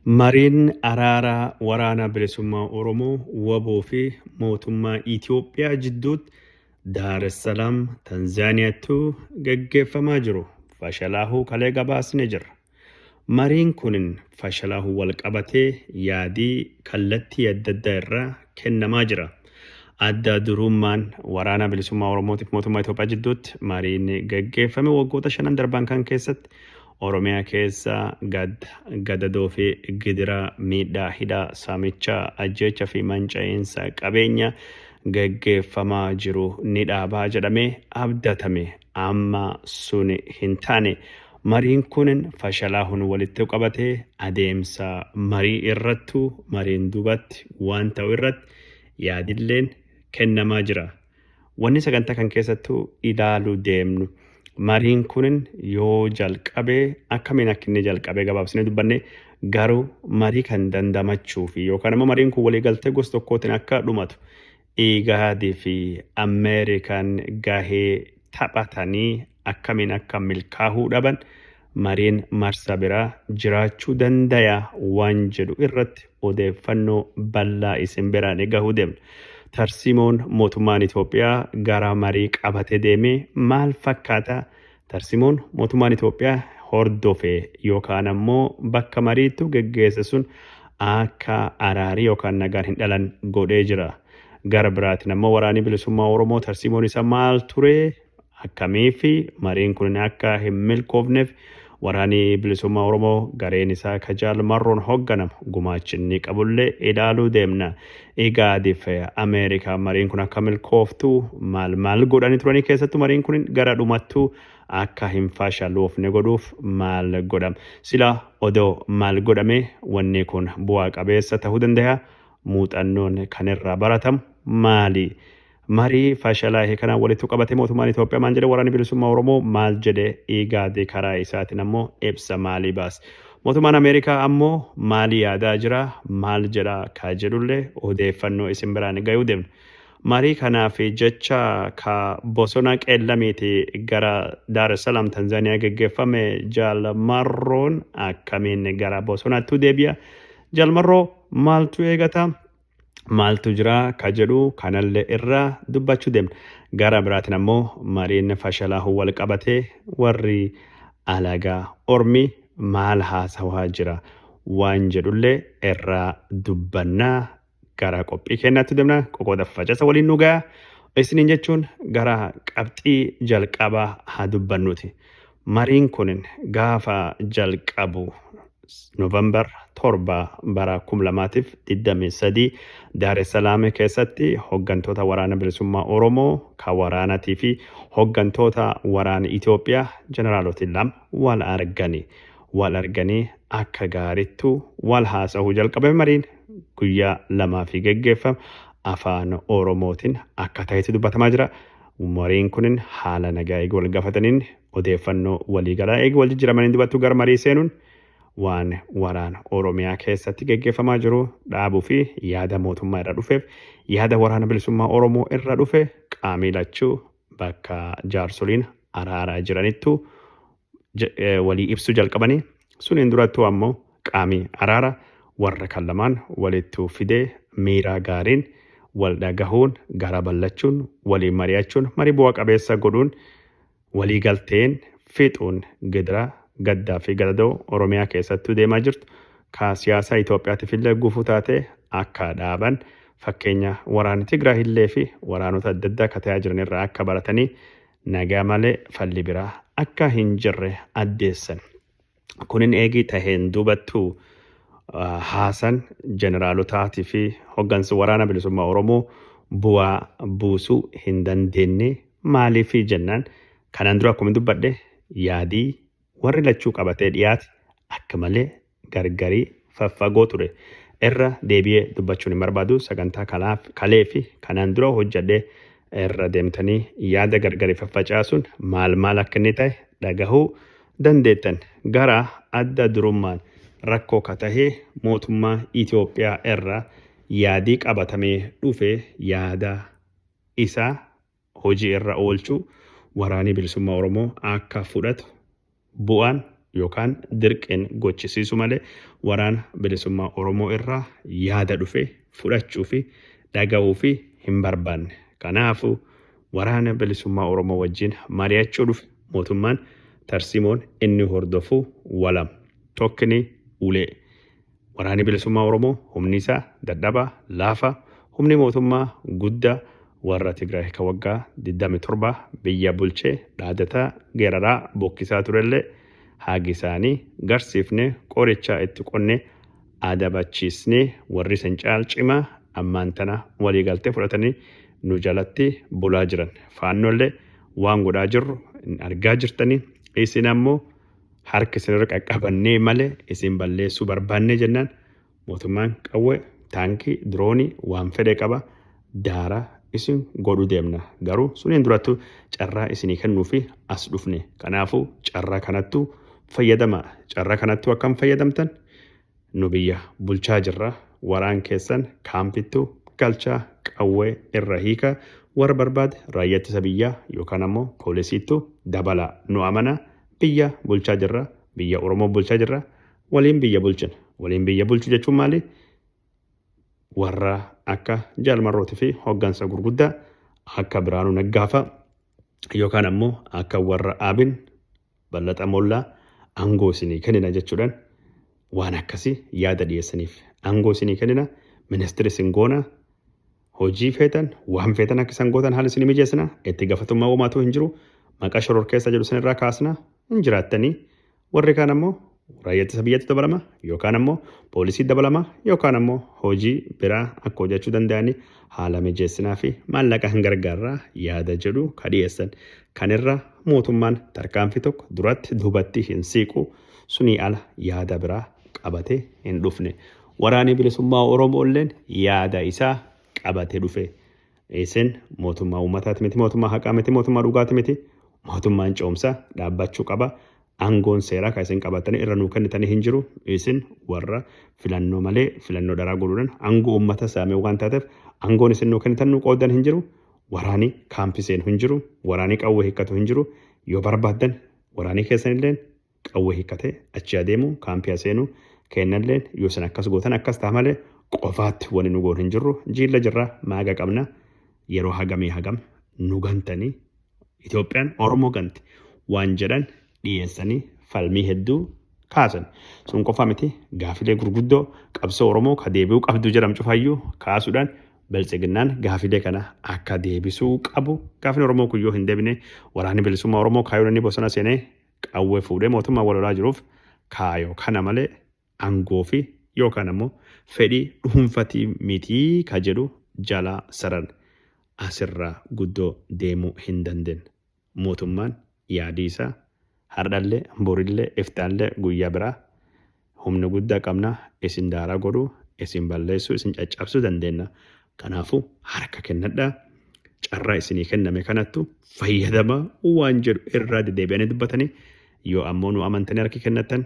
Mariin araaraa Waraana Bilisummaa Oromoo, wbo, fi mootummaa Itiyoophiyaa jidduutti Daar es Salaam, Tanzaaniyaatti gaggeeffamaa jiru fashalaahuu kalee gabaasne jirra. Mariin kun fashalaahuun walqabatee yaadi kallattii addaddaa irraa kennamaa jira. Adda duruummaan Waraana Bilisummaa Oromootiif mootummaa Itiyoophiyaa jidduutti mariin gaggeeffame waggoota shanan darban kan keessatti Oromiyaa keessa gadda, gadadoo fi gidiraa, miidhaa, hidhaa, saamicha, ajjeecha fi manca'iinsa qabeenya geggeeffamaa jiru ni dhaabaa jedhamee abdatame. Amma suni hin taane. Mariin kun fashalaahun walittu qabatee adeemsa marii irrattu mariin dubatti waan ta'u irratti yaadilleen kennamaa jira. Wanni sagantaa kan keessattuu ilaalu deemnu mariin kunin yoo jalqabe akkamiin akka inni jalqabe gabaabsinee dubbanne garuu marii kan dandamachuu fi yookaan immoo mariin kun waliigaltee gosa tokkootiin akka dhumatu Igaadii fi Ameerikaan gahee taphatanii akkamiin akka milkaahuu dhaban mareen marsa biraa jiraachuu dandaya waan jedhu irratti odeeffannoo ballaa isin biraani gahu deemna. Tarsimoon mootummaan Itoophiyaa gara marii qabate deemee maal fakkaata? Tarsimoon mootummaan Itoophiyaa hordofe yookaan ammoo bakka mariittu geggeesse sun akka araarii yookaan nagaan hin dhalan godhee jira. Gara biraatiin ammoo waraanii bilisummaa Oromoo tarsimoon isa maal ture? akkamii fi mariin kunin akka hin milkoofneef waraani bilisummaa Oromoo gareen isaa ka Jaal Marroon hogganamu gumaachi inni qabullee ilaaluu deemna. Igaadif Ameerikaa mariin kun akka milkooftu maal maal godhani turanii keessattu mariin kunin gara dhumattu akka hin faashaloofne godhuuf maal godham. Sila odoo maal godhamee wanni kun bu'aa qabeessa tahuu dandayaa? Muuxannoon kan irraa baratamu maali? Marii fashalaa'e kanaan walitti qabatee mootummaan Itoophiyaa maal jedhe? Waraanni Bilisummaa Oromoo maal jedhe? IGAD karaa isaatiin ammoo ibsa maalii baase? Mootummaan Ameerikaa ammoo maalii yaadaa jira? Maal jedha? Ka jedhullee odeeffannoo isin biraan gayuu deemna. Marii kanaaf jecha ka bosona qeellamiiti gara Daar es Salaam Tanzaaniyaa geggeeffame Jaal Marroon akkamiin gara bosonaatti deebi'a? Jaal Marroo maaltu eegata? maaltu jira ka jedhu kanallee irra dubbachuu deemna. Gara biraatiin ammoo mariin fashalaahuu wal qabatee warri alagaa ormi maal haasawaa jira waan jedhullee irra dubbanna gara qophii keenyaatti deemna qoqooda facasa waliin nu gaya isiniin jechuun gara qabxii jalqabaa haa dubbannuuti. Mariin kun gaafa jalqabu November 7 bara 2023 Daar es Salaam keessatti hoggantoota Waraana Bilisummaa Oromoo, ka waraanatii fi hoggantoota waraana Itoophiyaa jeneraaloti lama wal argani. Wal arganii akka gaarittu wal haasahuu jalqabame mariin guyyaa lamaafii geggeeffame afaan Oromootiin akka tahetu dubbatamaa jira. Mariin kunin haala nagaa eega wal gafataniin odeeffannoo walii galaa eega wal jijjiramaniin dubattuu gara marii seenuun waan waraana Oromiyaa keessatti geggeeffamaa jiru dhaabuu fi yaada mootummaa irra dhufeef yaada waraana bilisummaa Oromoo irra dhufe qaamii lachuu bakka jaarsoliin araaraa jiranittu walii ibsuu jalqabanii suniin durattuu ammoo qaamii araara warra kan lamaan walittuu fidee miiraa gaariin wal dhagahuun garaa ballachuun walii mari'achuun marii bu'a qabeessa godhuun walii galteen fiixuun gidiraa gaddaa fi gadadoo Oromiyaa keessattuu deemaa jirtu ka siyaasaa Itoophiyaatiif illee gufuu taatee akka dhaaban fakkeenya waraana Tigraay illee fi waraanota adda addaa ka ta'aa jiran irraa akka baratanii Nagaa malee falli biraa akka hin jirre addeessan. Kunin eegii taheen duubattuu haasan jeneraalotaatii fi hoggansi waraana bilisummaa Oromoo bu'aa buusuu hin dandeenne maaliifi jennaan kanaan dura akkuma dubbadhe yaadii warri lachuu qabatee dhiyaate akka malee gargari faffagoo ture. Irra deebi'ee dubbachuun hin barbaadu sagantaa kalaaf kalee fi kanaan dura hojjedhe irra deemtanii yaada gargari faffacaasuun maal maal akka inni ta'e dhagahuu dandeettan. Gara adda durummaan rakkoo ka tahe mootummaa Itoophiyaa irra yaadii qabatamee dhufe yaada isaa hojii irra oolchuu Waraanii Bilisummaa Oromoo akka fudhatu bu'aan yookaan dirqiin gochisiisu malee Waraana Bilisummaa Oromoo irraa yaada dhufe fudhachuu fi dhaga'uu fi hin barbaanne. Kanaafuu Waraana Bilisummaa Oromoo wajjin mari'achuu dhufe. Mootummaan tarsiimoon inni hordofu walam. Tokkni ulee. Waraanni Bilisummaa Oromoo humni isaa dadhabaa, laafaa, humni mootummaa guddaa warra Tigraay ka waggaa 27 biyya bulchee dhaadataa, geeraraa, bokkisaa turellee haagi isaanii garsiifnee qorichaa itti qonnee adabachiisnee warri isin caal cimaa ammaan tana walii galtee fudhatanii nu jalatti bulaa jiran. Faannollee waan godhaa jirru argaa jirtanii isin ammoo harka isinirra qaqqabannee malee isin balleessuu barbaannee jennaan mootummaan qawwee taankii diroonii waan fedhe qaba daara isin godhu deemna garuu suniin durattu carraa isinii kennuu fi as dhufne kanaafuu carraa kanattu fayyadama carraa kanattu akkam fayyadamtan Nu biyya bulchaa jirra waraan keessan kaampittu galchaa qawwee irra hiika warra barbaade raayya ittisa biyyaa yookaan ammoo poolisiittu dabala nu amana biyya bulchaa jirra biyya oromoo bulchaa jirra waliin biyya bulchina waliin biyya bulchu jechuun maali warra akka jaal marrooti fi hoggansa gurguddaa akka biraanuu naggaafa yookaan ammoo akka warra aabin Ballaxa Molla angoo isinii kennina jechudhan waan akkasi yaada dhiyessanif angoo isinii kennina ministiri isin goona hojii feetan waan feetan akka isan gootan haala isinii mijeessina itti gafatummaa womaatuu hin jiru maqaa shororkeessa jedhu isin irraa kaasna hin jiraattanii warri kaan ammoo raayyaa ittisa biyyaatti dabalama yookaan ammoo poolisii dabalama yookaan ammoo hojii biraa akka hojjechuu danda'anii haala mijeessinaa fi maallaqa hin gargaarraa yaada jedhu ka dhiyeessan. Kan irra mootummaan tarkaanfii tokko duratti duubatti hin siiqu sunii ala yaada biraa qabatee hin dhufne. Waraanii bilisummaa Oromoo illeen yaada isaa qabatee dhufe. Isin mootummaa uummataati miti, mootummaa haqaa miti, mootummaa dhugaati miti. Mootummaan ce'umsaa dhaabbachuu qaba. Aangoon seeraa kan isin qabattanii irra nuu kennitanii hin jiru. Isin warra filannoo malee filannoo dharaa godhuudhaan aangoo uummata saamee waan taateef aangoon isin nuu kennitan nuu qooddan hin jiru. Waraanii kaampii seenu hin jiru. Waraanii qawwee hiikkatu hin jiru. Yoo barbaaddan waraanii keessanilleen qawwee hikkatee achii adeemu kaampii aseenu keennalleen yoo isin akkas gootan akkas ta'a malee qofaatti wani nu goon hin jirru jiilla jirra maaga qabna yeroo hagamii hagam nu gantanii Itoophiyaan Oromoo ganti waan jedhan dhiyeessanii falmii hedduu kaasan. Sun qofa miti gaafilee gurguddoo qabsoo Oromoo ka deebi'uu qabdu jedhamu cufayyuu kaasuudhaan biltsiginnaan gaafilee kana akka deebisuu qabu gaafin Oromoo kun yoo hin deebine waraanni bilisummaa Oromoo kaayyoon inni bosona seenee qawwee fuudhee mootummaa wal lolaa jiruuf kaayoo kana malee angoo fi yookaan ammoo fedhii dhuunfatii mitii ka jedhu jalaa saran asirraa guddoo deemuu hin dandeen. Mootummaan yaadii isaa hardhallee, borillee, iftaallee, guyyaa biraa Humna guddaa qabna, isin daaraa godhuu, isin balleessuu, isin caccabsuu dandeenna. Kanaafuu harka kennadhaa, carraa isinii kenname kanattu fayyadamaa waan jedhu irraa dedeebi'anii dubbatanii yoo ammoo nu amantanii harki kennattan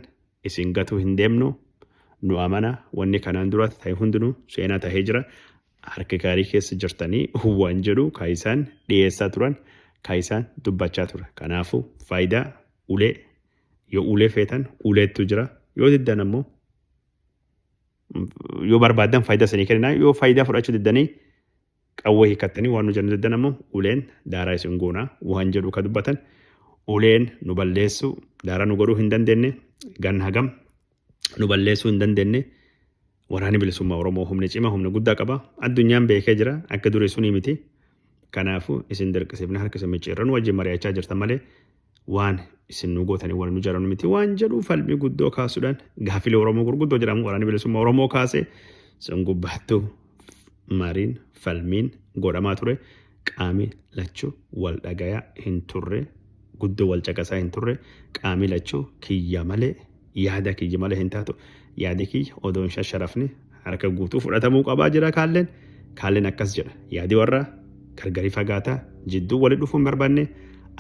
isin gatuu hin deemnu nu amana wanni kanaan duraatti ta'e hundinuu seenaa ta'ee jira harki gaarii keessa jirtanii waan jedhu kaayisaan dhiyeessaa turan kaayisaan dubbachaa ture kanaafuu faayidaa ulee Yoo ulee feetan uleettu jira. Yoo diddan ammoo yoo barbaaddan faayidaa isinii kenninaa yoo faayidaa fudhachuu diddanii qawwee hiikattanii waan nu jennu diddan ammoo uleen daaraa isin goonaa waan jedhu ka dubbatan uleen nu balleessuu daaraa nu godhuu hin dandeenye ganna hagam nu balleessuu hin dandeenye Waraanni bilisummaa Oromoo humna cimaa humna guddaa qaba. Addunyaan beekee jira. Akka durii sunii miti. Kanaafuu isin dirqisiifna harka isin micciirranu wajjin mari'achaa jirtan malee waan isin nu gootanii waan nu jaranu miti waan jedhu falmii guddoo kaasuudhaan gaafilee Oromoo gurguddoo jedhamu waraanni bilisummaa Oromoo kaase sun gubbaattuu mariin falmiin godhamaa ture. qaami lachu wal dhagaya hin turre guddo wal caqasaa hin turre qaami lachu kiyya male yaada kiyya male hin taatu yaadi kiyya odoo hin shasharafne harka guutuu fudhatamuu qabaa jira kaalleen kaalleen akkas jedha yaadi warra gargari fagaataa jidduu wali dhufuu hin barbaanne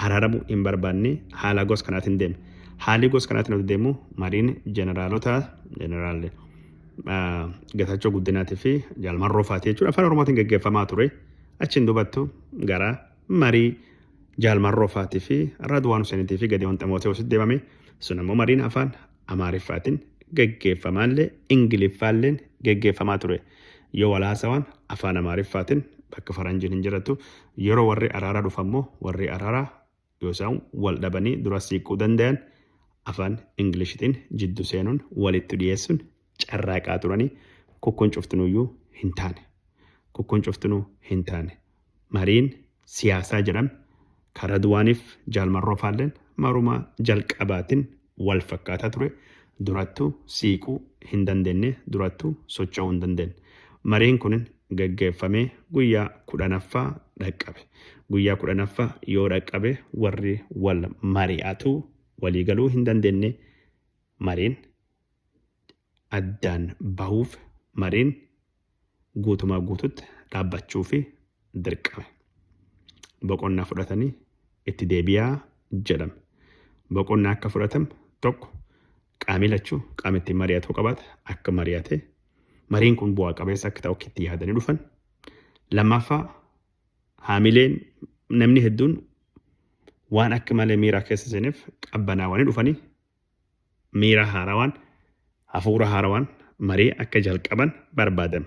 araaramuu hin barbaanne haala gos kanaatiin deeme haalii gos kanaatiin oduu deemu mariin jeneraalota jeneraal Getaachoo Guddinaatii fi Jaalmarroo fa'aati jechuudha afaan Oromootiin gaggeeffamaa ture. Achiin dubattu gara marii Jaal Marroo faatii fi Radwaan Huseenitii fi Gadiyoon Ximootewoositti deemame. Sun ammoo mariin afaan Amaariffaatiin geggeeffamaallee Ingiliffaalleen geggeeffamaa ture. Yoo wal haasawaan afaan Amaariffaatiin bakka faranjiin hin jirattu. Yeroo warri araaraa dhufu ammoo warri araaraa Yoo isaan wal dhabanii duras siiqquu dandayan afaan Inglishitiin jiddu seenuun walittu dhiyeessuun carraaqaa turanii kukkun cuftinuuyyuu hin taane. Kukkun cuftinuu hin taane. Mariin siyaasaa jedhame ka Radwaaniif Jaal Marroo faalleen maruma jalqabaatin wal fakkaataa ture durattu siiquu hin dandenne durattu socho'uu hin dandenne. Mariin kun gaggeeffamee guyyaa kudhanaffaa dhaqqabe. Guyyaa kudhanaffaa yoo dhaqqabe warri wal mari'atu walii galuu hin dandenne mariin addaan bahuuf mariin guutumaa guututti dhaabbachuufi dirqame. Boqonnaa fudhatanii itti deebi'aa jedhame. Boqonnaa akka fudhatamu tokko qaamii lachuu qaama ittiin mari'atu qabaata akka mari'ate mariin kun bu'aa qabeessa akka ta'u itti yaadanii dhufan. Lammaffaa haamileen namni hedduun waan akka malee miiraa keessa seeneef qabbanaawanii dhufanii miira haarawaan, hafuura haarawaan marii akka jalqaban barbaadan.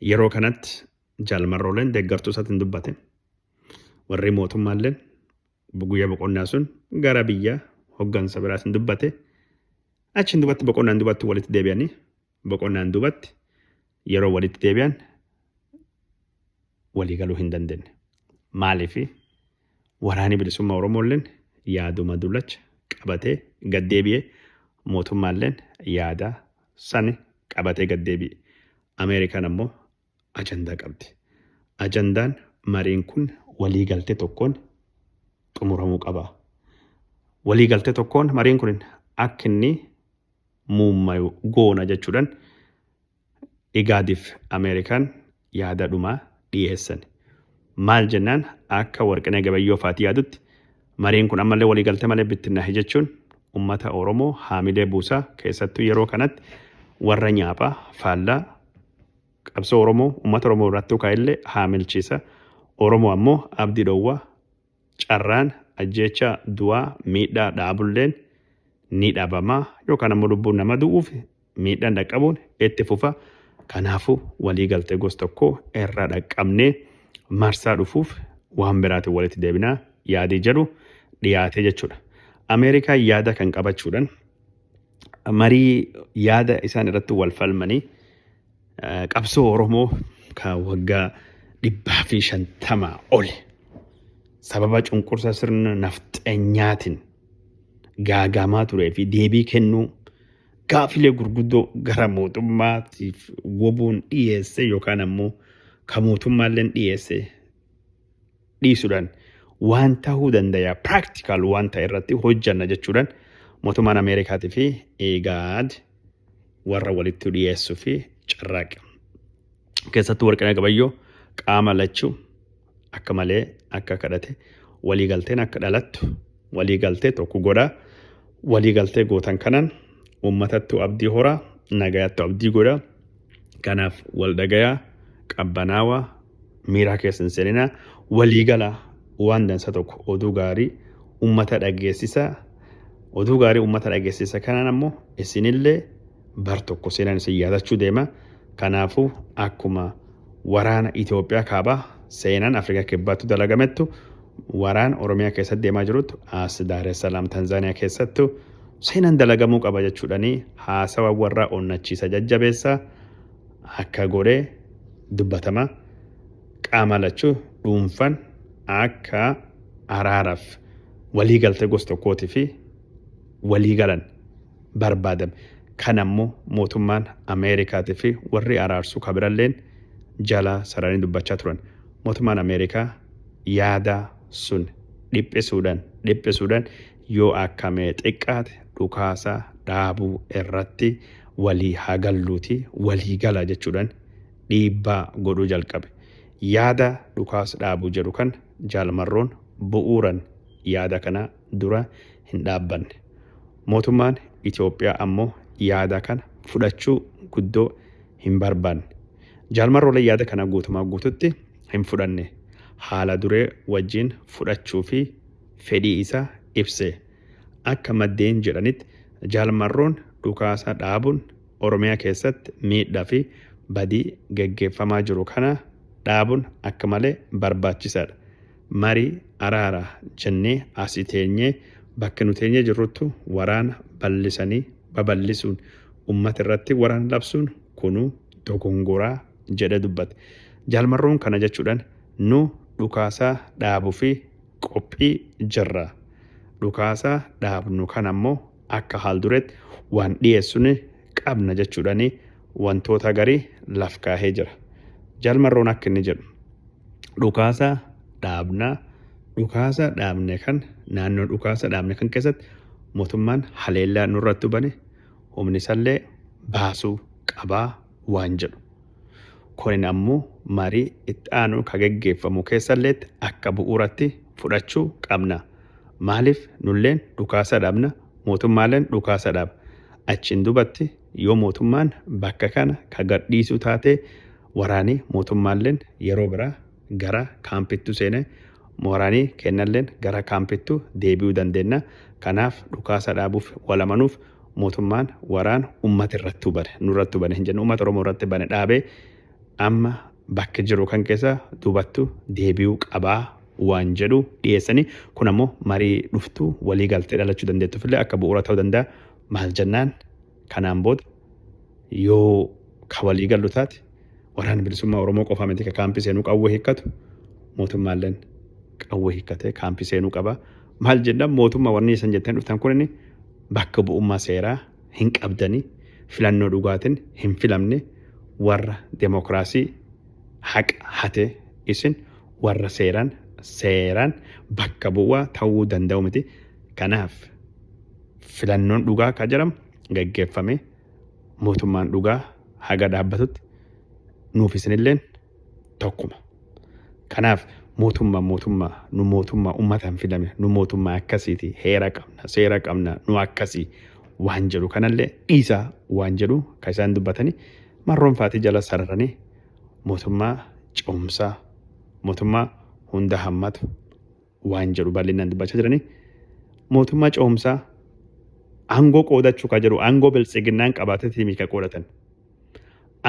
Yeroo kanatti Jaal Marrooleen deeggartuu isaatiin dubbate. Warri mootummaalleen guyyaa boqonnaa sun gara biyya hoggansa biraatiin dubbate. Achiin duubatti boqonnaan duubatti walitti deebi'anii Boqonnaan duubatti yeroo walitti deebi'an walii galuu hin dandeenye. Maaliif? Waraanni bilisummaa Oromoolleen yaaduma dullacha qabatee gad deebi'e, mootummaalleen yaada sani qabatee gad deebi'e. Ameerikaan ammoo ajandaa qabdi. Ajandaan mariin kun waliigaltee tokkoon xumuramuu qaba. Waliigaltee tokkoon mariin kun akka inni muummayu goona jechuudhaan Igaadiif Ameerikaan yaada dhumaa dhiyeessan. Maal jennaan akka Warqinee Gabayyoo faati yaadutti mariin kun ammallee waliigaltee malee bittinnaahe jechuun ummata Oromoo haamilee buusaa keessattuu yeroo kanatti warra nyaaphaa faallaa Qabsoo Oromoo ummata Oromoo irraatti ukaa'ellee haamilchiisa. Oromoo ammoo abdii dhoowwa. Carraan ajjeecha, du'aa, miidhaa dhaabulleen ni dhabama. Yookaan ammoo lubbuun nama du'uufi miidhaan dhaqqabuun itti fufa. Kanaafuu walii galtee gos tokkoo irra dhaqqabnee marsaa dhufuuf waan biraatiin walitti deebinaa yaadii jedhu dhiyaatee jechuudha. Ameerikaan yaada kan qabachuudhan marii yaada isaan irratti wal falmanii eh, qabsoo Oromoo kan waggaa dhibbaa fi shantamaa oli sababa cunqursa sirna nafxenyaatiin gaagaamaa turee fi deebii kennuu gaafilee gurguddoo gara mootummaatiif wobuun dhiyeesse yookaan ammoo kan mootummaalleen dhiyeesse dhiisuudhaan waan ta'uu dandaya practical waan ta'e irratti hojjanna jechuudhaan mootummaan Ameerikaatii fi IGAD warra walitti dhiyeessuu fi carraaqa. Keessattuu warqina gabayyoo qaama lachuu akka malee akka kadhate walii galteen akka dhalattu walii galtee tokko godhaa walii galtee gootan kanan uummatattu abdii horaa nagayattu abdii godhaa kanaaf wal dhagayaa qabbanaawaa miiraa keessa hin seenina waliigala waan dansa tokko oduu gaarii ummata dhageessisa oduu gaarii ummata dhageessisa kanaan ammoo isinillee bar tokko seenaan isin yaadachuu deema kanaafuu akkuma waraana Itoophiyaa kaabaa seenaan Afrikaa kibbaattu dalagamettu waraan Oromiyaa keessatti deemaa jiruttu as Daaressalaam Tanzaaniyaa keessattu seenaan dalagamuu qaba jechuudhanii haasawa warraa onnachiisa jajjabeessaa akka godhe dubbatama. Qaama lachuu dhuunfan akka araaraf walii galtee gos tokkootifi walii galan barbaadame. Kana immoo mootummaan Ameerikaatifi warri araarsu ka biralleen jala sararanii dubbachaa turan. Mootummaan Ameerikaa yaada sun dhiphisudhan dhiphisudhan Yoo akka mee xiqqaate dhukaasa dhaabuu irratti walii haa galluutii walii galaa jechuudhan dhiibbaa godhuu jalqabe. Yaada dhukaas dhaabuu jedhu kan Jaal Marroon bu'uuran yaada kana dura hin dhaabbanne. Mootummaan Itoophiyaa ammoo yaada kana fudhachuu guddoo hin barbaanne. Jaal Marroolee yaada kana guutumaa guututti hin fudhanne. Haala duree wajjiin fudhachuu fi fedhii isaa ibse. Akka maddeen jedhanitti Jaal Marroon dhukaasa dhaabuun Oromiyaa keessatti miidhaa fi badii gaggeeffamaa jiru kana dhaabuun akka malee barbaachisaadha. Marii araaraa jennee asi teenyee bakka nu teenyee jirruttu waraana bal'isanii babal'isuun ummata irratti waraana labsuun kunuu dogongoraa jedhee dubbate. Jaal Marroon kana jechuudhaan nu dhukaasaa dhaabu fi qophii jirra. Dhukaasa dhaabnu kana immoo akka haaldureetti waan dhiyeessu ni qabna jechuudhaan wantoota garii laf kaahee jira. Jaal Marroon akka inni jedhu dhukaasa dhaabna dhukaasa dhaabne kan naannoo dhukaasa dhaabne kan keessatti mootummaan haleellaa nurratti bane humni isallee baasuu qabaa waan jedhu. Kunin ammoo marii itti aanu ka geggeeffamu keessalleetti akka bu'uuratti fudhachuu qabna. Maaliif nulleen dhukaasa dhaabna, mootummaalleen dhukaasa dhaaba. Achiin duubatti yoo mootummaan bakka kana ka gadhiisu taate waraanii mootummaalleen yeroo biraa gara kaampittu seene moorani keennalleen gara kaampittu deebi'uu dandeenna kanaaf dhukaasa dhaabuuf wal amanuuf mootummaan waraan ummata irrattuu bane nurrattuu bane hin jennu ummata oromoo irratti bane dhaabe amma bakki jiru kan keessa duubattu deebi'uu qabaa waan jedhu dhiyeessanii kun ammoo marii dhuftu walii galtee dhalachuu dandeettuuf illee akka bu'uura ta'uu danda'a maal jennaan Kanaan booda yoo ka walii gallu taate Waraanni Bilisummaa Oromoo qofaa miti ka kaampii seenuu qawwee hiikkatu, mootummaalleen qawwee hiikkatee kaampii seenuu qaba. Maal jennaan mootummaa warri isan jettanii dhuftan kunin bakka bu'ummaa seeraa hin qabdanii, filannoo dhugaatin hin filamne, warra demokraasii haqa hate isin warra seeraan seeraan bakka bu'aa ta'uu danda'u miti. Kanaaf. Filannoon dhugaa ka jedhamu gaggeeffamee mootummaan dhugaa haga dhaabbatutti nuuf isinilleen tokkuma. Kanaaf mootummaan mootummaa nu mootummaa ummataan filame nu mootummaa akkasiiti heera qabna seera qabna nu akkasii waan jedhu kanallee dhiisaa waan jedhu ka isaan dubbatanii marroonfaatii jala sararanii mootummaa cimsaa mootummaa hunda hammatu waan jedhu bal'inaan dubbachaa jiranii mootummaa ce'umsaa aangoo qoodachuu kan jedhu aangoo biltsiginnaan qabaateetii kan qoodatan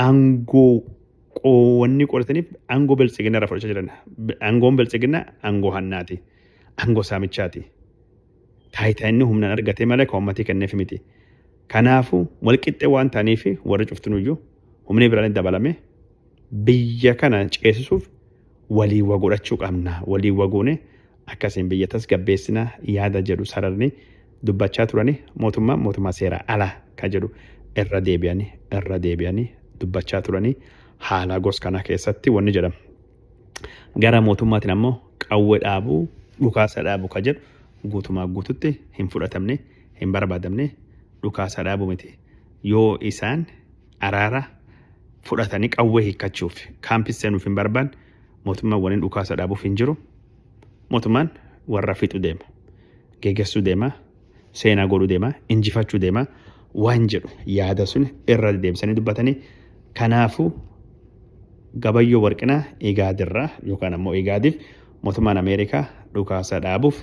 aangoo qoonni qoodataniif aangoo biltsiginnaa irraa fudhachaa jiran aangoon biltsiginnaa aangoo hannaati aangoo saamichaati taayitaa inni humnaan argatee malee kan uummatii kenneef miti kanaafuu walqixxee waan ta'aniif warri cuftinuyyuu humni biraan dabalame biyya kana ceesisuuf waliin wa godhachuu qabna, waliin wa goone akkasiin biyya tasgabbeessina yaada jedhu sararni dubbachaa turani mootummaan mootummaa seeraa ala ka jedhu irra deebi'ani irra deebi'ani dubbachaa turani haala gos kanaa keessatti wanni jedhamu gara mootummaatiin ammoo qawwe dhaabu dhukaasa dhaabu ka jedhu guutumaa guututti hin fudhatamne hin barbaadamne dhukaasa dhaabu miti yoo isaan araara fudhatanii qawwee hiikkachuuf kaampis seenuuf hin barbaanne mootummaan waliin dhukaasa dhaabuuf hin jiru. Mootummaan warra fixu deema. Gegessuu deema. Seenaa godhuu deema. Injifachuu deema. Waan jedhu yaada sun irra deebisanii dubbatanii kanaafuu gabayyoo warqinaa igaadirraa yookaan ammoo igaadiif mootummaan Ameerikaa dhukaasa dhaabuuf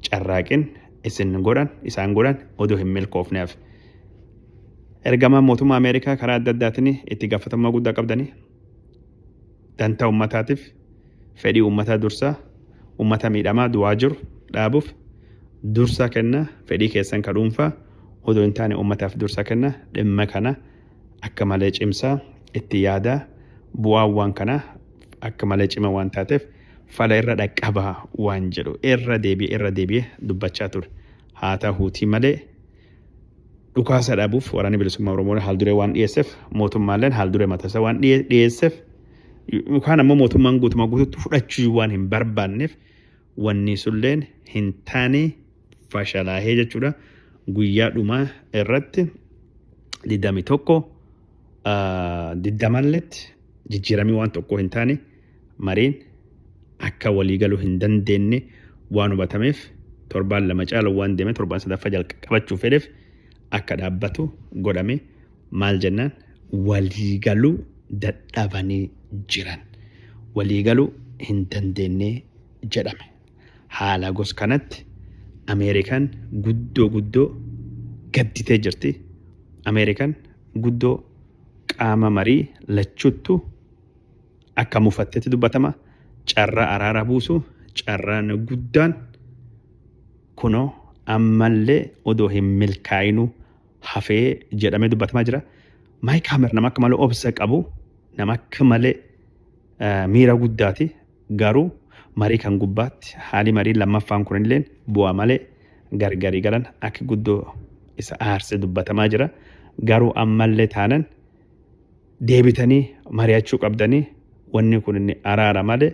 carraaqin isin godhan isaan godhan odoo hin milkoofneef. Ergamaan mootummaa Ameerikaa karaa adda addaatiin itti gaafatamummaa guddaa qabdanii dantaa uummataatiif fedhii uummataa dursaa uummata miidhamaa du'aa jiru dhaabuuf dursaa kennaa fedhii keessan ka dhuunfaa odoo hin taane uummataaf dursaa kennaa dhimma kana akka malee cimsaa itti yaadaa bu'aan waan kanaa akka malee cima waan taateef fala irra dhaqqabaa waan jedhu irra deebi'ee irra deebi'ee dubbachaa ture haa ta'uutii malee Dhukaasa dhaabuuf waraanni bilisummaa Oromoo haalduree waan dhiyeesseef mootummaalleen haalduree matasa waan dhiyeesseef yookaan ammoo mootummaan guutumaa guututti fudhachuu waan hin barbaanneef wanni sulleen hin taane fashalaahee jechuudha. Guyyaa dhumaa irratti 21 diddamalletti jijjiiramii waan tokko hin taane. mariin akka walii galuu hin dandeenne waan hubatameef torbaan lama caalu waan deeme torbaan sadaffaa jalqabachuu fedheef akka dhaabbatu godhame maal jennaan walii galuu dadhabanii jiran walii galuu hin dandeenne jedhame haala gos kanatti Ameerikaan guddoo guddoo gadditee jirti Ameerikaan guddoo qaama marii lachuuttu akka mufattetti dubbatama carraa araara buusu carraan guddaan kunoo ammallee odoo hin milkaa'inuu hafee jedhamee dubbatamaa jira. Maayik Haamer nama akka malee obsa qabu nama akka malee miira guddaati garuu marii kan gubbaatti haalli marii lammaffaan kunillee bu'aa malee gargarii galan akka guddoo isa aarse dubbatamaa jira garuu ammallee taanan deebitanii mari'achuu qabdanii wanni kun inni araara malee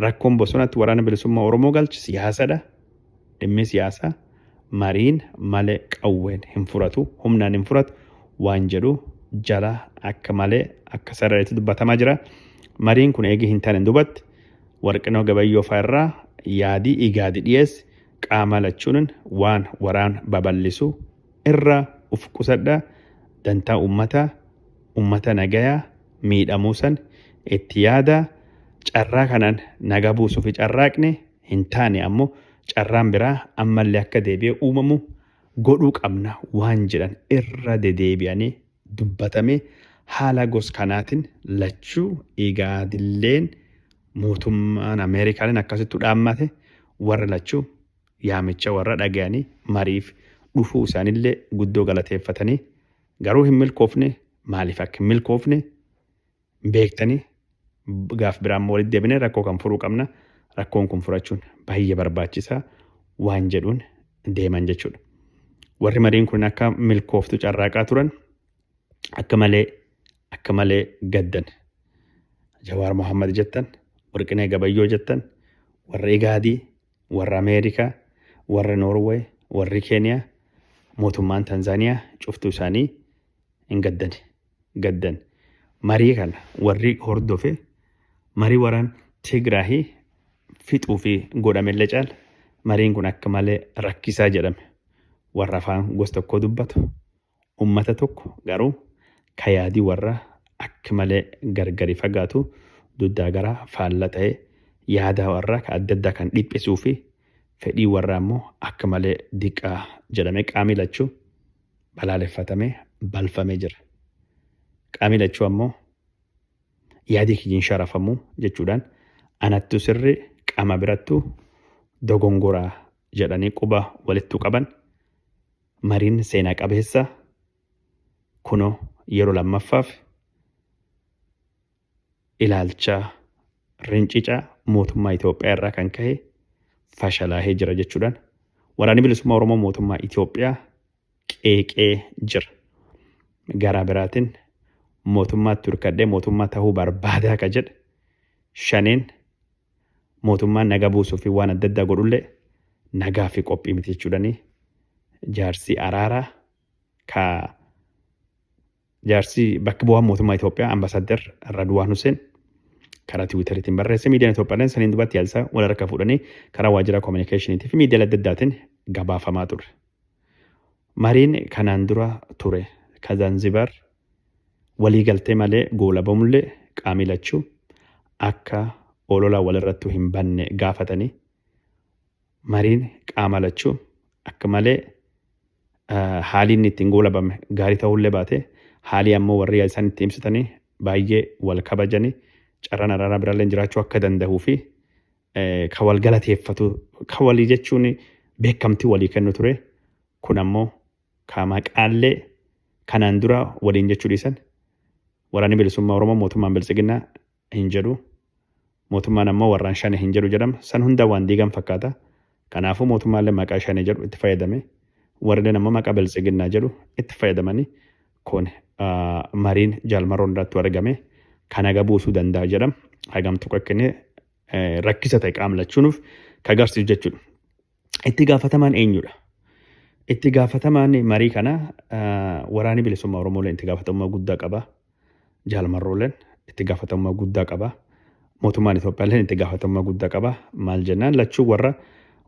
rakkoon bosonatti waraana bilisummaa Oromoo galche siyaasadha. Dhimmi siyaasaa mariin malee qawween hin furatu, humnaan hin furatu waan jedhu jala akka malee akka sarareetti dubbatamaa jira. Mariin kun eegii hin taane dubatti warqinoo gabayyoo fa'aa irraa yaadii igaadi dhiyeessi qaama lachuunin waan waraan baballisu irra uf qusadha dantaa ummata ummata nagaya miidhamuu san itti yaada carraa kanaan naga buusufi carraaqne hin taane ammo carraan biraa ammalle akka deebi'e uumamu godhuu qabna waan jedhan irra dedeebi'ane dubbatame haala gos kanaatin lachuu igaadilleen mootummaan Amerikaaleen akkasittu dhaammate warra lachuu yaamicha warra dhagayanii mariif dhufuu isaanillee guddoo galateeffatanii, garuu hin milkoofne, maaliif akka hin milkoofne beektanii gaaf biraa immoo walitti deebinee rakkoo kan furuu qabna, rakkoon kun furachuun baay'ee barbaachisaa waan jedhuun deeman jechuudha. Warri mariin kun akka milkooftu carraaqaa turan akka malee akka malee gaddan. Jawaar Mohaammed jettan, Warqinee Gabayyoo jettan, warra Igaadii, Warri Ameerikaa, warri Norway, warri Keniyaa, mootummaan Tanzaniyaa cuftuu isaanii hin gaddani. Gaddan. Marii kana warri hordofe marii waraan Tigraahi fixuu fi godhamellee caala mariin kun akka malee rakkisaa jedhame. Warra afaan gosa tokkoo dubbatu, ummata tokko garuu ka yaadi warra akk malee gargari fagaatu duddaa garaa faalla tahe yaadaa warraa ka adda addaa kan dhiphisuu fi fedhii warraa immoo akk malee diqqaa jedhamee qaamii lachuu balaaleffatamee balfamee jira. Qaamii lachuu ammoo yaadii kiyyin sharafamuu jechuudhaan anattu sirri qama birattu dogongoraa jedhanii quba walittu qaban Mariin seenaa qabeessa kuno yeroo lammaffaaf ilaalcha rincica mootummaa Itoophiyaa irraa kan ka'e fashalaahee jira jechuudhaan waraanni bilisummaa Oromoo mootummaa Itoophiyaa qeeqee jira. Garaa biraatiin mootummaatti hirkadhee mootummaa tahuu barbaadaa ka jedhe shaneen mootummaan nagaa buusuufi waan adda addaa godhullee nagaafi qophii miti jechuudhani jaarsi araaraa ka jaarsi bakka bu'aan mootummaa Itoophiyaa Ambasaaddar Radwaan Huseen karaa tiwiitariitiin barreesse miidiyaan Itoophiyaa saniin dubaatti yaadsa wal harka fuudhanii karaa waajjira koominikeeshiniitii fi miidiyaalee adda addaatiin gabaafamaa ture. Mariin kanaan dura ture ka Zanzibar walii galtee malee goolabamullee qaamii lachuu akka olola walirrattu hin banne gaafatanii mariin qaama lachuu akka malee haalii inni ittiin goolabame gaarii ta'ullee baate haalii ammoo warri isaan itti himsitanii baay'ee wal kabajanii carraan araaraa biraallee jiraachuu akka danda'uu fi ka wal galateeffatu ka walii jechuun beekamtii walii kennu ture kun ammoo ka maqaallee kanaan dura waliin jechuu dhiisan waraanni bilisummaa Oromoo mootummaan biltsiginnaa hin jedhu mootummaan ammoo warraan shane hin jedhu jedhama san hunda waan diigan fakkaata kanaafuu mootummaallee maqaa shane jedhu itti fayyadame warrilleen ammoo maqaa biltsiginnaa jedhu itti fayyadamanii kun mariin jaalmaroon irratti argame kan haga buusuu danda'a jedham hagam tokko kennee rakkisa ta'e qaamlachuunuuf ka agarsiisu jechuudha. Itti gaafatamaan eenyudha? Itti gaafatamaan marii kana waraanni bilisummaa Oromooleen itti gaafatamummaa guddaa qaba. Jaalmarrooleen itti gaafatamummaa guddaa qaba. Mootummaan Itoophiyaaleen itti gaafatamummaa guddaa qaba. Maal jennaan lachuu warra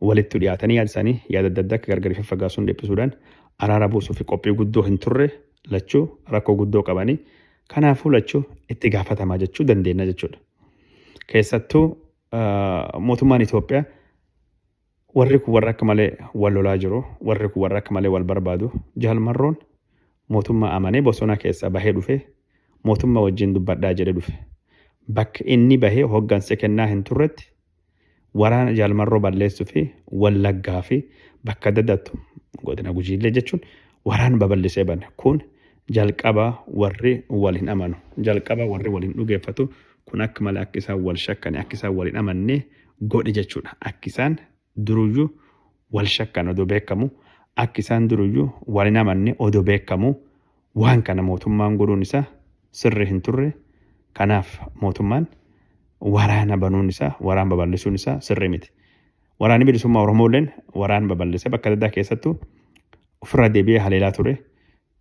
walitti dhiyaatanii yaada isaanii yaada adda addaa akka gargari faffagaasuun dhiphisuudhaan araara buusuu fi qophii guddoo hin turre lachuu rakkoo guddoo qabanii kanaafuu lachuu itti gaafatamaa jechuu dandeenya jechuudha. Keessattuu mootummaan Itoophiyaa warri kun warra akka malee wal lolaa jiru warri kun warra akka malee wal barbaadu jaalmarroon mootummaa amanee bosona keessaa bahee dhufe mootummaa wajjin dubbadhaa jedhe dhufe bakka inni bahee hoggansa kennaa hin turretti waraana jaalmarroo balleessuu fi wallaggaa fi bakka adda addaattu godina gujiillee jechuun waraana babal'isee bane kun Jalqaba warri wal hin amanu. Jalqaba warri wal hin dhugeeffatu. Kun akka malee akka isaan wal shakkani, akka isaan wal hin amanne godhe jechuudha. Akki isaan duruyyuu wal shakkan odoo beekamu, akki isaan duruyyuu wal hin amanne odoo beekamu waan kana mootummaan godhuun isaa sirri hin turre. Kanaaf mootummaan waraana banuun isaa, waraan babal'isuun isaa sirri miti. Waraanni bilisummaa Oromoo illeen waraan babal'ise bakka adda addaa keessattuu ofirraa deebi'ee haleelaa ture.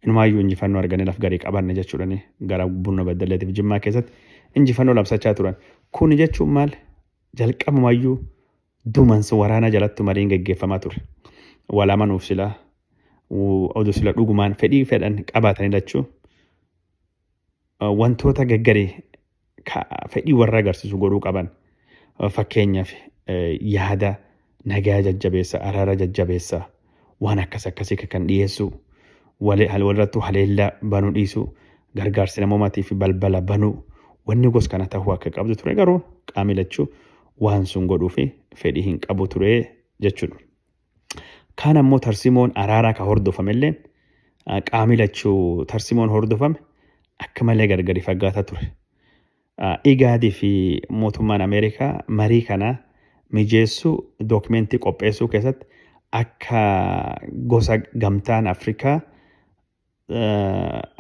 Inumaayyuu injifannoo arganne laf garii qabanne jechuudhaan gara Bunno Beddelleetiif Jimmaa keessatti injifannoo labsachaa turan. Kuni jechuun maal? Jalqabumayyuu dumansa waraanaa jalattu mariin geggeeffamaa ture. Wal amanuuf silaa oduu sila dhugumaan fedhii fedhan qabaatanii lachuu wantoota gaggarii fedhii warra agarsiisu godhuu qaban fakkeenyaaf yaada nagaa jajjabeessa araara jajjabeessa waan akkas akkasii kan dhiyeessu walirrattuu haleellaa banuu dhiisu gargaarsi namoomatii fi balbala banuu wanni gos kana ta'uu akka qabdu ture garuu qaamni lachuu waan sun godhuu fi fedhii hin qabu ture jechuudha. Kaan ammoo tarsimoon araaraa ka hordofamelleen qaami lachuu tarsimoon hordofame akka malee gargari faggaata ture. Igaadii fi mootummaan Ameerikaa marii kana mijeessuu dookumentii qopheessuu keessatti akka gosa gamtaan Afrikaa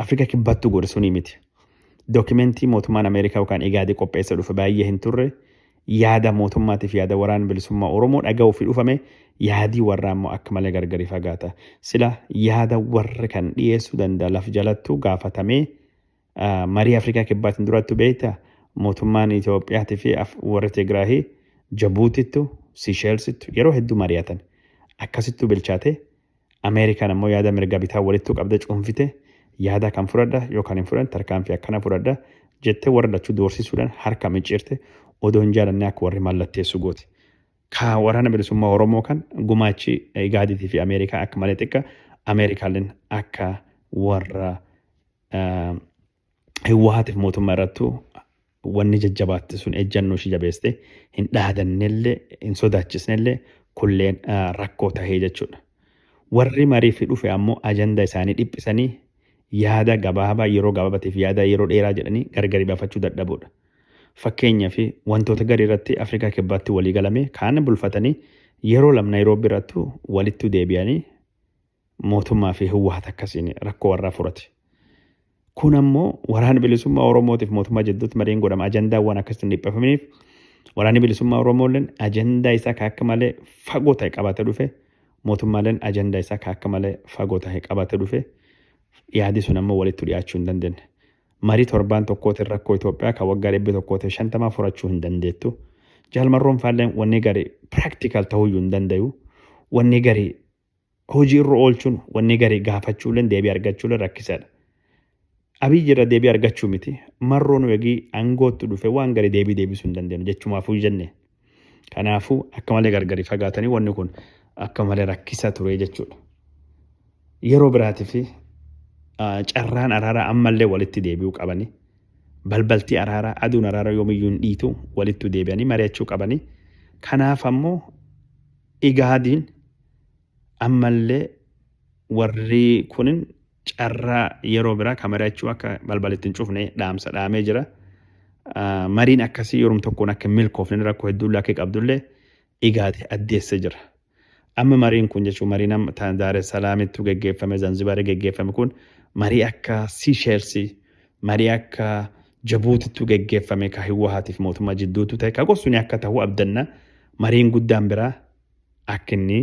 Afrika kibbaattu godhe sunii miti. Dookimentii mootummaan Ameerikaa yookaan Igaadii qopheessa dhufe baay'ee hin turre yaada mootummaatiif yaada waraan bilisummaa Oromoo dhaga'uu fi dhufame yaadii warraa immoo akka malee gargari fagaata. Sila yaada warri kan dhiyeessuu danda'a laf jalattuu gaafatamee marii Afrikaa Kibbaatiin duraattu beekta mootummaan Itoophiyaatii fi warri Tigraahii Jabuutittu, Siisheelsittu yeroo hedduu mari'atan. Akkasittuu bilchaate Ameerikaan ammoo yaada mirga bitaa walittuu qabda cuunfite yaada kan fudhadha yookaan hin fudhan tarkaanfii akkana fudhadha jettee warra lachuu doorsisuudhaan harka micciirte odoo hin jaalannee akka warri mallatteessu gooti. Ka waraana bilisummaa Oromoo kan gumaachi Igaadiitii fi Ameerikaa akka malee xiqqa Ameerikaalleen akka warra Hiwwaatiif mootummaa irrattu wanni jajjabaatte sun ejjannoo ishii jabeeste hin dhaadannellee hin sodaachisnellee kulleen rakkoo tahee jechuudha. Warri mariif dhufe ammoo ajanda isaanii dhiphisanii yaada gabaabaa yeroo gabaabatiif yaada yeroo dheeraa jedhanii gargari bafachuu dadhabuudha. Fakkeenya fi wantoota garii irratti Afrikaa kibbaatti walii galame kaan bulfatanii yeroo lam Naayiroobii irrattu walittu deebi'anii Mootummaa fi Hiwwahat akkasiin rakkoo warraa furate. Kun ammoo waraana bilisummaa Oromootiif mootummaa jidduutti mariin godhama. Ajandaawwan akkasitti hin dhiphafaminiif waraanni bilisummaa Oromoolleen ajandaa isaa ka akka malee fagoo ta'e qabatee dhufe. Mootummaaleen ajandaa isaa ka akka malee fagoo ta'e qabatee dhufe. Yaadi sun ammoo walitti dhiyaachuu hin dandeenye. Marii torbaan tokkootiin rakkoo Itoophiyaa kan waggaa dhibbi tokkootiin shantamaa furachuu hin dandeettu. Jaalmarroon faalleen wanni gari practical ta'uyyuu hin dandayu. Wanni gari hojii irra oolchuun wanni garii gaafachuuleen deebii argachuuleen rakkisaadha. Abiyyi irra deebii argachuu miti marroo nu egii aangootti dhufe waan garii deebii deebisuu hin dandeenyu jechumaafuu jenne. Kanaafuu akka malee gargari fagaatanii wanni kun akka malee rakkisa ture jechuudha. Yeroo biraatiif carraan araaraa ammallee walitti deebi'uu qabanii balbaltii araaraa aduun araaraa yoomiyyuu hin dhiitu walittu deebi'anii mari'achuu qabanii kanaaf ammoo Igaadiin ammallee warri kun carraa yeroo biraa ka mari'achuu akka balbal itti hin cufne dhaamsa dhaamee jira. Mariin akkasii yorum tokkoon akka hin milkoofne rakkoo hedduullee akka qabdullee Igaadi addeesse jira. Amma mariin kun jechuun mariin amma ta- Daar es Salaamittu geggeeffame, Zanzibaari geggeeffame kun marii akka Siisheelsii, marii akka Jabuutittu geggeeffame ka Hiwwahaatiif mootummaa jidduuttu tahe ka gorsuni akka tahu abdanna mariin guddaan biraa akka inni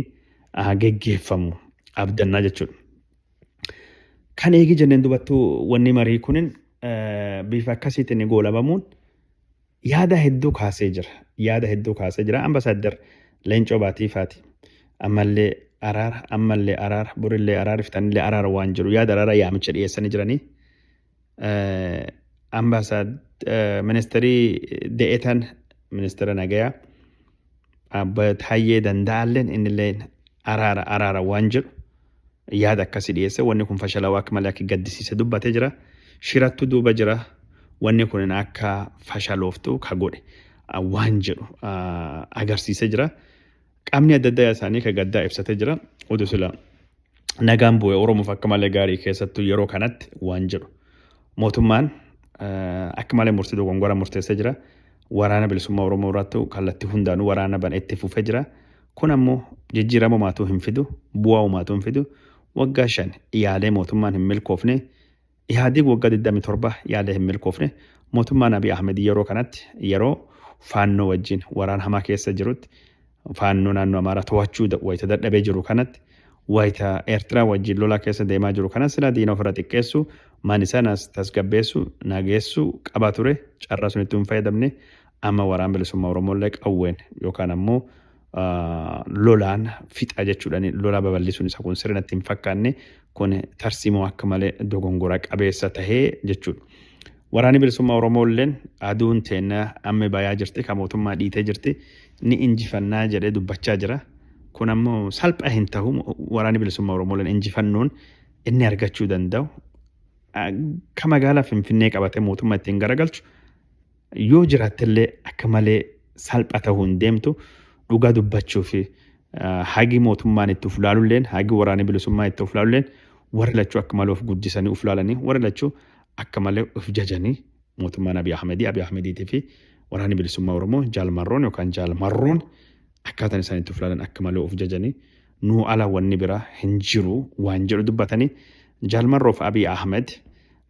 geggeeffamu abdanna jechuudha. Kan eegi jenneen dubattu wanni marii kunin bifa akkasiitiin goolabamuun yaada hedduu kaasee jira. Yaada hedduu kaasee jira. Ambasaaddar Leencoo Baatiifaati. Ammallee araara, ammallee araara, borillee araara, iftanillee araara waan jedhu yaada araara yaamicha dhiyeessanii jiranii. Ambaasaad ministeerii de'etan ministeera nagayaa abba Taayyee Danda'aalleen innillee araara araara waan jedhu yaada akkasii dhiyeesse wanni kun fashalawaa akka malee akka gaddisiise dubbatee jira. Shirattu duuba jira wanni kun akka fashalooftu ka godhe waan jedhu agarsiisee jira. Qaamni adda addaa isaanii ka gaddaa ibsatee jira. Udu sila nagaan bu'e Oromoof akka malee gaarii keessattuu yeroo kanatti waan jedhu. Mootummaan akka malee murtii dogongora murteessee jira. Waraana bilisummaa Oromoo irratti kallattii hundaanuu waraana bana itti fufee jira. Kun ammoo jijjiirama umaatuu hin fidu, bu'aa umaatuu hin fidu. Waggaa shan yaalee mootummaan hin milkoofne Ihaadig waggaa 27 yaada hin milkoofne, mootummaan Abiy Ahmed yeroo kanatti yeroo Faannoo wajjin waraana hamaa keessa jirutti, Faannoo naannoo Amaaraa to'achuu wayita dadhabee jiru kanatti, wayita Eertiraa wajjin lolaa keessa deemaa jiru kanas silaa diina ofirra xiqqeessu, mani sanas tasgabbeessu, nageessu qaba ture, carraa sunitti hin fayyadamne, amma Waraan Bilisummaa Oromoo illee qawween yookaan ammoo lolaan fixa jechuudha. Lolaa babal'isuun isaa kun sirrii natti hin fakkaanne kun tarsiimoo akka malee dogongora qabeessa tahee jechuudha. Waraanni bilisummaa Oromoo illeen aduun teenna amma bayaa jirti kan mootummaa dhiitee jirti ni injifannaa jedhee dubbachaa jira. Kun ammoo salphaa hin tahu waraanni bilisummaa Oromoo illeen injifannoon inni argachuu danda'u ka magaalaa Finfinnee qabatee mootummaa ittiin garagalchu Yoo jiraattellee akka malee salpha ta'uu hin deemtu. Dhugaa dubbachuuf hagi mootummaan itti of laalulleen hagi waraanni bilisummaa itti of laalulleen warri lachuu akka malee of guddisanii of laalanii warri lachuu akka malee of jajanii mootummaan Abiy Ahmedii Abiy Ahmediitii fi waraanni bilisummaa Oromoo jaalmarroon yookaan jaalmarroon akkaataan isaan itti of ilaalan akka malee of jajanii nuu ala wanni biraa hin jiru waan jedhu dubbatanii Jaal Marroof Abiy Ahmed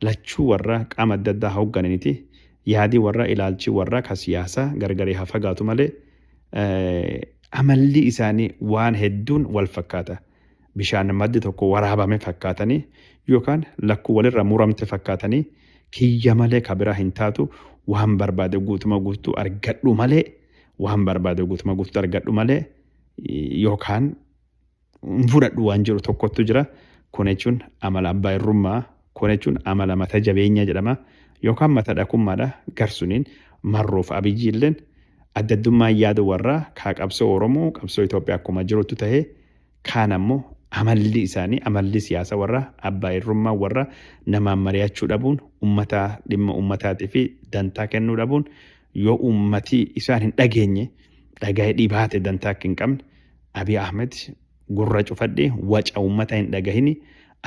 lachuu warra qaama adda addaa hooggananiti yaadii warra ilaalchi warra ka siyaasaa gargaree haa fagaatu malee amalli isaanii waan hedduun wal fakkaata. Bishaan maddi tokko waraabame fakkaatanii yookaan lakkuu walirra muramte fakkaatanii kiyya malee ka biraa hin taatu waan barbaade guutuma guutuu argadhu malee waan barbaade guutuma guututti argadhu malee yookaan hin fudhadhu waan jedhu tokkottu jira. Kun jechuun amala abbaa irrummaa, kun jechuun amala mata jabeenyaa jedhama yookaan mata dhakummaadha garsuniin marroof abiyyi illeen addaddummaan yaada warraa kaa qabsoo Oromoo qabsoo Itoophiyaa akkuma jirutti ta'ee Kaan ammoo amalli isaanii amalli siyaasa warra abbaa irrummaa warra namaan mari'achuu dhabuun ummata dhimma ummataatifi dantaa kennuu dhabuun yoo ummati isaan hin dhageenye dhagahe dhibaate dantaa akka hin qabne Abiy Ahmed gurra cufadhee waca ummata hin dhagahini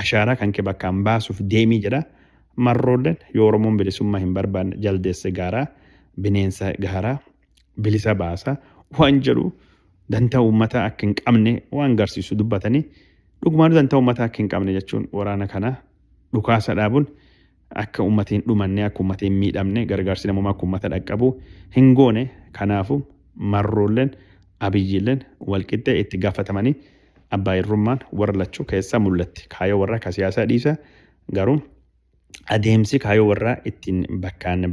ashaaraa kanke bakkaan baasuuf deemii jedha marroollen yoo oromoon bilisummaa hin barbaanne jaldeessa gaaraa bineensa gaaraa bilisa baasa waan jedhu dantaa uummataa akka hin qabne waan garsiisu dubbatanii dhugumaanu dantaa uummataa akka hin qabne jechuun waraana kana dhukaasa dhaabuun akka uummati hin dhumanne akka uummati hin miidhamne gargaarsi namummaa akka uummata dhaqqabu hin goone kanaafu marroolleen abiyyiilleen walqixxee itti gaafatamanii abbaa irrummaan warra lachuu keessaa mul'atti kaayoo warra akka siyaasaa dhiisa garuu adeemsi kaayoo warraa ittiin bakkaan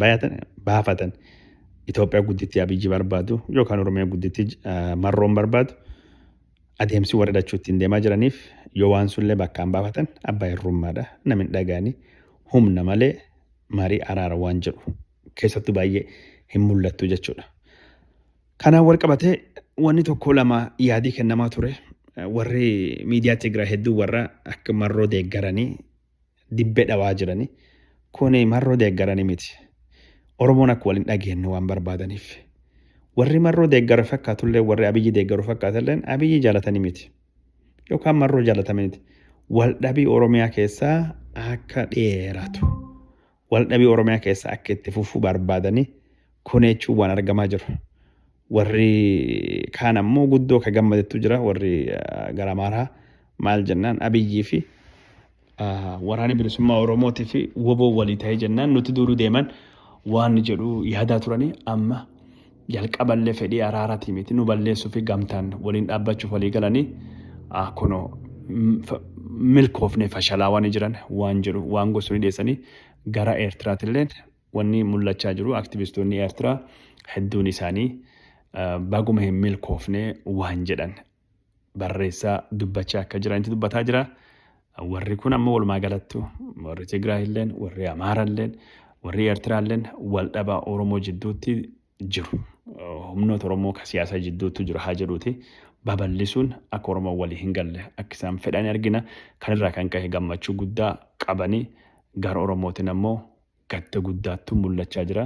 baafatan Itoophiyaa guddittii Abiyyi barbaadu yookaan Oromiyaa guddittii Marroon barbaadu adeemsi warri lachuu ittiin deemaa jiraniif yoo waan sunillee bakkaan baafatan abbaa hirrummaadha namin dhagaanii humna malee marii araara waan jedhu keessattuu baay'ee hin mul'attu jechuudha. Kanaan wal qabatee wanni tokko lama yaadii kennamaa ture warri miidiyaa Tigraay hedduu warra akka marroo deeggaranii dibbee dhawaa jirani. Kuni marroo deeggarani miti. Oromoon akka wal hin dhageenne waan barbaadaniif. Warri marroo deeggara fakkaatullee warri abiyyi deeggaru fakkaatalleen abiyyi jaalatani miti. Yookaan marroo jaalatamaniti. Wal dhabii Oromiyaa keessaa akka dheeratu. waldhabii Oromiyaa keessaa akka itti fufu barbaadanii koneechuun waan argamaa jiru. Warri kaan ammoo guddoo ka gammadetu jira warri gara Amaaraa maal jennaan Abiyyii fi waraanni bilisummaa Oromootii fi woboo walii ta'ee jennaan nuti duuduu deeman waan jedhu yaadaa turanii amma Jalqaballe fedhii araarati miti nu balleessufi gamtaan waliin dhaabbachuuf walii galanii kuno milkoofne fashalaa wani jiran waan jedhu waan gorsuni dheessani gara Eertiraatilleen wanni mullachaa jiru aktivistoonni Eertiraa hedduun isaanii baguma hin milkoofne waan jedhan barreessaa dubbachaa akka jiranitti dubbataa jira. Warri kun amma walumaa galattu warri Tigraay illeen warri Amaara illeen warri Eertiraa illeen wal dhabaa Oromoo jidduutti jiru. Humnoota Oromoo ka siyaasaa jidduutti jiru haa jedhuuti babal'isuun akka Oromoo walii hin galle akka isaan fedhan argina. Kanirraa kan ka'e gammachuu guddaa qabanii gara Oromootiin ammoo Gadda guddaattu mul'achaa jira.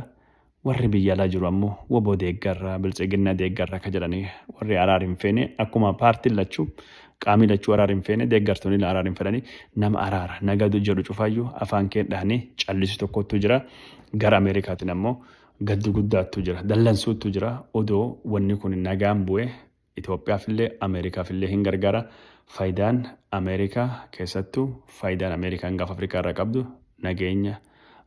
Warri biyya alaa jiru ammoo wbo deeggarra, biltsiginna deeggarra ka jedhani warri araar hin feene akkuma paartiin lachu qaamii lachuu araar hin feene deeggartoonille araar hin fedhani nama araara, naga jedhu cufaayyu afaan kee dhahani callisu tokkottu jira. Gara Amerikaatin ammoo gaddu guddaattu jira. Dallansuuttu jira. Odoo wanni kun nagaan bu'ee Itoophiyaafillee Ameerikaafillee hin gargaara. Faayidaan Ameerikaa keessattuu faayidaan Ameerikaan gaafa Afrikaa irraa qabdu nageenya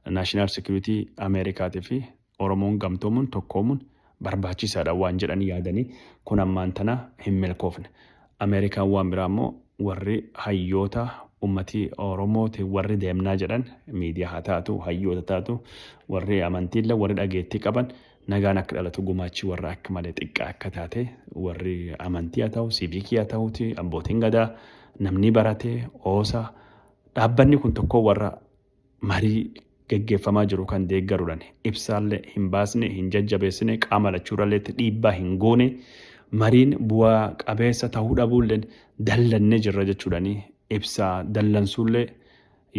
national security Ameerikaati fi Oromoon gamtoomuun tokkoomuun barbaachisaadha waan jedhan yaadanii kun ammaan tana hin milkoofne. Ameerikaan waan biraa immoo warri hayyoota ummati Oromooti warri deemnaa jedhan miidiyaa haa taatu hayyoota taatu warri amantiillee warri dhageettii qaban Nagaan akka dhalatu gumaachi warra akka malee xiqqaa akka taate warri amantii haa ta'u, siiviikii haa ta'uuti, abbootiin gadaa, namni barate, oosa, dhaabbanni kun tokkoo warra marii geggeeffamaa jiru kan deeggaruudhaan ibsaallee hin baasne, hin jajjabeessine, qaama lachuurralleetti dhiibbaa hin goone, mariin bu'aa qabeessa ta'uu dhabuulleen dallannee jirra jechuudhaan ibsaa dallansuullee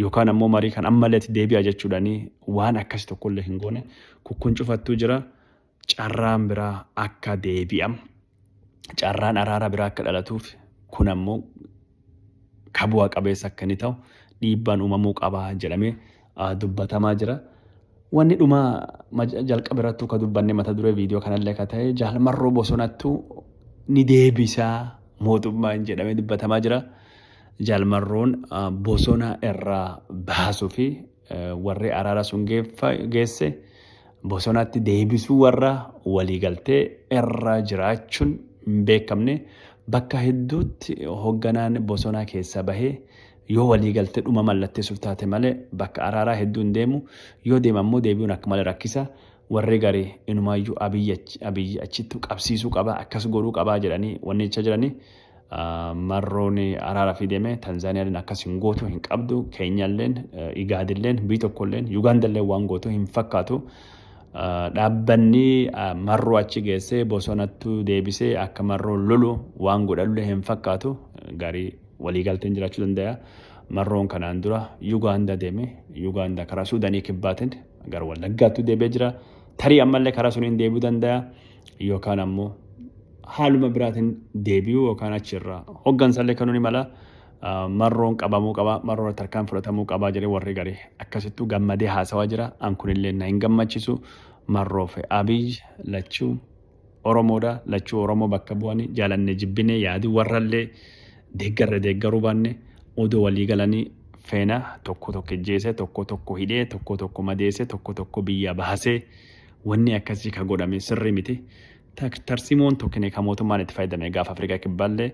yookaan ammoo marii kan ammallee itti deebi'a jechuudhaanii waan akkasi tokkollee hin goone kukkun cufattuu jira carraan biraa akka deebi'am carraan araara biraa akka dhalatuuf kun ammoo ka bu'a qabeessa akka inni ta'u dhiibbaan uumamuu qaba jedhamee dubbatamaa jira. Wanni dhuma ma- jalqaba irrattuu ka dubbanne mata duree viidiyoo kanallee ka ta'e jaal marroo bosonattu ni deebisaa mootummaan jedhamee dubbatamaa jira. Jaal marroon ah, bosona irraa baasuu fi eh, warri araara sun geeffa- geesse bosonatti deebisuu warra waliigaltee irra jiraachuun hin beekamne bakka hedduutti hoogganaan bosonaa keessaa bahee Yoo waliigalte dhuma mallatteessuuf taate male bakka araaraa hedduu hin deemu, yoo deema ammoo deebi'uun akka male rakkisa. Warri gari inumaayyuu Abiy achi, Abiy achittu qabsiisuu qaba, akkas godhuu qaba jedhanii wanni jechaa jirani. Marroon araarafii deeme, Tanzaaniyaalleen akkas hin gootu, hin qabdu, Keenyaalleen, Igaadilleen, biyyi tokkolleen, Yugaandalleen waan gootu hin fakkaatu. Dhaabbanni Marroo achi geessee bosonattu deebisee akka Marroon lolu waan godhanullee hin fakkaatu. Garii. Waliigalteen jiraachuu dandaya. Marroon kanaan dura Yugaanda deeme. Yugaanda karaa Suudanii kibbaatiin gara Wallaggaattu deebi'ee jira. Tarii ammallee karaa suniin deebi'uu dandaya. Yookaan ammoo haaluma biraatiin deebi'uu yookaan achirraa hoggansallee kanuu ni mala. Marroon qabamuu qaba, marroo irratti harkaan fudhatamuu qaba jedhee warri gari akkasittuu gammadee haasawaa jira. An kunillee na hin gammachiisu. Marroo fi Abiy lachuu Oromoodha. Lachuu Oromoo bakka bu'anii jaalanne jibbine yaadi warrallee deeggarre deeggaruu baanne odoo walii galanii feena tokko tokko ijjeese tokko tokko hidhee tokko tokko madeese tokko tokko biyyaa baasee wanni akkasii ka godhame sirrii miti. Tarsimoon tokkine ka mootummaan itti fayyadame gaafa Afrikaa kibbaallee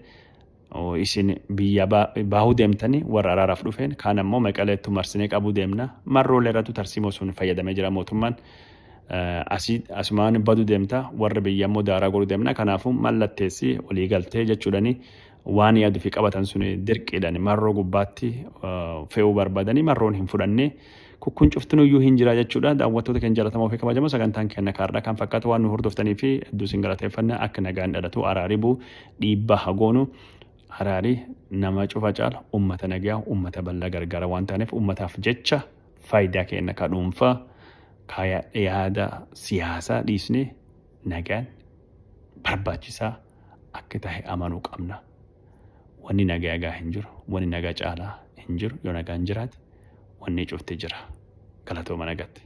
isin biyya baahuu deemtanii warra araaraaf dhufeen kaan ammoo maqaleettu marsinee qabuu deemna marroolee irrattu tarsiimoo sun fayyadamee jira mootummaan asii asumaan baduu deemta warra biyya ammoo daaraa godhuu deemna kanaafuu mallatteessi walii galtee jechuudhani waan yaaduu fi qabatan sun dirqiidhaan marroo gubbaatti fe'uu barbaadanii marroon hin fudhannee Kukkuun cuftinuyyuu hin jira jechuudha. Daawwattoota keenya jalatamoo fi kabajamoo sagantaan keenya kaardhaa kan fakkaatu waan nu hordoftanii fi hedduu isin galateeffanna akka nagaan dhalatu araari buu dhiibbaa hagoonu araari nama cufa caala ummata nagaa ummata bal'aa gargaara waan taaneef ummataaf jecha faayidaa keenya ka dhuunfaa ka yaada siyaasaa dhiisnee nagaan barbaachisaa akka tahe amanuu qabna. Wanni naga egaa hin jiru. Wanni naga caalaa hin jiru. Yoo nagaan jiraate wanni cufti jira. Galatooma nagatti.